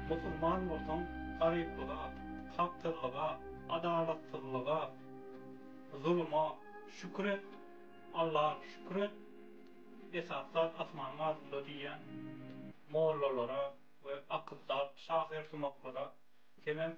Musulman bolsaň, garyplyga, kakdyrlyga, adalatsyzlyga, zuluma şükür et, Alla şükür et, esasy zat asmanyň astynda diýýän mollalara we akyldar şahyrsumaklara semem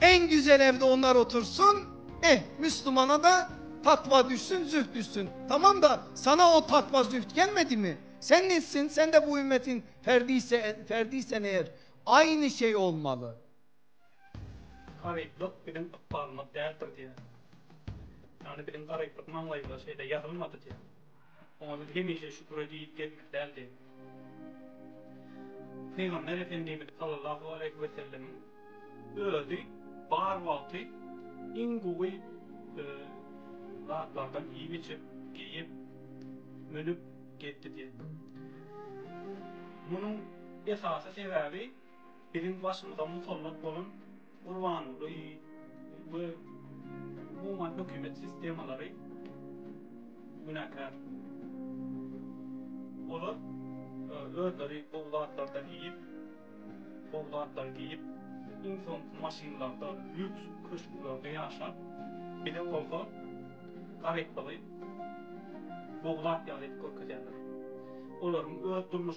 Eň güzel evde onlar otursyn eh müslümana da takva düşsün züht düşsün tamam da sana o takva züht gelmedi mi sen neçsin sen de bu ümmetin ferdiysen eer aynı şey olmalı. Garyplyk biziň ykbalymyz däldir diýýär. Ýagny biziň garyplyk maňlaýymyza şeýle ýazylmady diýýär. Oňa biz hemişe şükür edip ýetmeli däldi. Pygamber Efendimiz sallallahu aleýhi we sellemiň özi bar wagty iň gowy zatlardan iýip-içip, geýip, münüp gezdi diýen. Munuň esasy sebäbi. Biziň başymyza musallat bolan Gurbanguly we umuman hökümet sistemalary günäkär. Olar özleri gowy zatlardan iýip, gowy zatlary geýip, iň soňky maşynlarda, lýuks köşklerde ýaşap, bize bolsa garyplygy gowy zat ýaly edip görkezýärler. Olaryň öz durmuş